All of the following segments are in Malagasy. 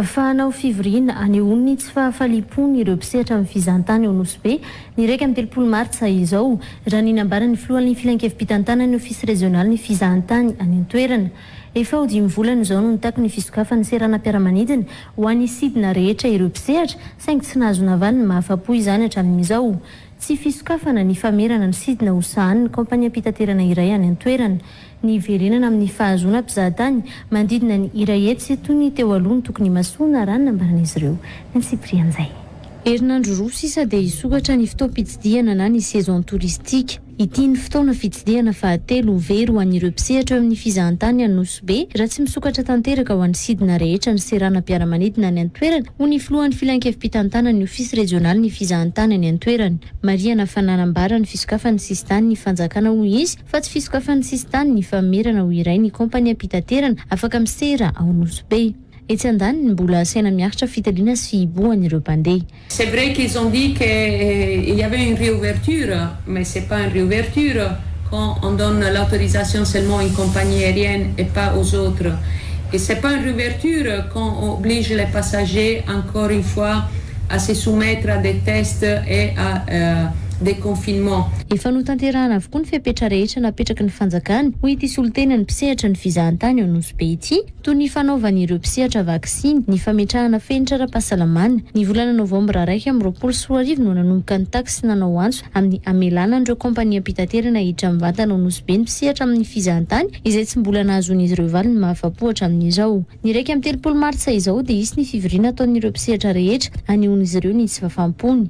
Fa hanao fivoriana hanehoany ny tsy fahafaliam-pony ireo mpisehatra amin'ny fizahantany ao Nosy Be, ny iraika amby telopolo martsa izao, raha ny nambaran'ny filohan'ny filankevi-pitantanan'ny ofisy rezionalin'ny fizahantany any an-toerana. Efa ho dimy volana izao no nitaky ny fisokafan'ny seranam-piaramanidina ho an'ny sidina rehetra ireo mpisehatra, saingy tsy nahazo navaliny mahafa-po izany hatramin'izao. Tsy fisokafana ny famerana ny sidina ho sahanin'ny kaompaniam-pitaterana iray any an-toerana. ny hiverenana amin'ny fahazoana mpizahatany manodidina ny Irahetsy toy ny teo aloha ny tokony himasoana, raha ny nambaran'izy ireo. Ny Cyprian'izay. Herinandro roa sisa dia hisokatra ny fotoam-pitsidihana na ny saison touristique. Ity ny fotoana fitsidihana fahatelo ho very ho an'ireo mpisehatra eo amin'ny fizahantany any Nosy Be raha tsy misokatra tanteraka ho an'ny sidina rehetra ny seranam-piaramanidina any an-toerana, hoy ny filohan'ny filan-kevi-pitantanan'ny ofisy rejionalin'ny fizahantany any an-toerana, Maria Nafana. Nambara ny fisokafan'ny sisin-tanin'ny fanjakana, hoy izy, Fa tsy fisokafan'ny sisintany ny famerana ho iray ny kaompaniam-pitaterana afaka misera ao Nosy Be. Etsy andaniny, mbola asaina miaritra fitiliana sy fihibohana ireo mpandeha. C'est vrai qu'ils ont dit que il y avait une réouverture mais c'est pas une réouverture quand on donne l'autorisation seulement à une compagnie aérienne et pas aux autres et c'est pas une réouverture quand on oblige les passagers encore une fois à se soumettre à des tests et à de confinement. Efa notanterahana avokoa ny fepetra rehetra napetraky ny fanjakana, hoy ity solontenan'ny mpisehatra ny fizahantany ao Nosy Be ity, toy ny fanaovan'ireo mpisehatra vaksiny, ny fametrahana fenitra ara-pahasalamana. Ny volana novambra iraika amby roapolo sy roa arivo no nanomboka nitaky sy nanao antso amin'ny hamelana an'ireo kaompaniam-pitaterana hiditra mivantana ao Nosy Be ny mpisehatra amin'ny fizahantany izay tsy mbola nahazoan'izy ireo valiny mahafapo hatramin'izao. Ny iraika amby telopolo martsa izao dia hisy ny fivoriana ataon'ireo mpisehatra rehetra hanehoan'izy ireo ny tsy fahafampony.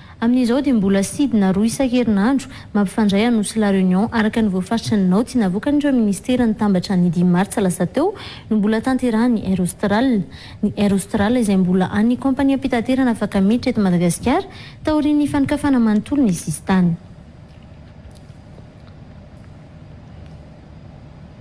Amin'izao dia mbola sidina roa isan-kerinandro mampifandray an'Nosy sy La Réunion araka ny voafaritry ny naoty navoakan'ireo minisitera nitambatra ny dimy martsa lasa teo no mbola tanterahin'ny Air Austral. Ny Air Austral izay mbola an'ny kaompaniam-pitaterana afaka miditra eto Madagasikara taorian'ny fanokafana manontolo ny sisintany.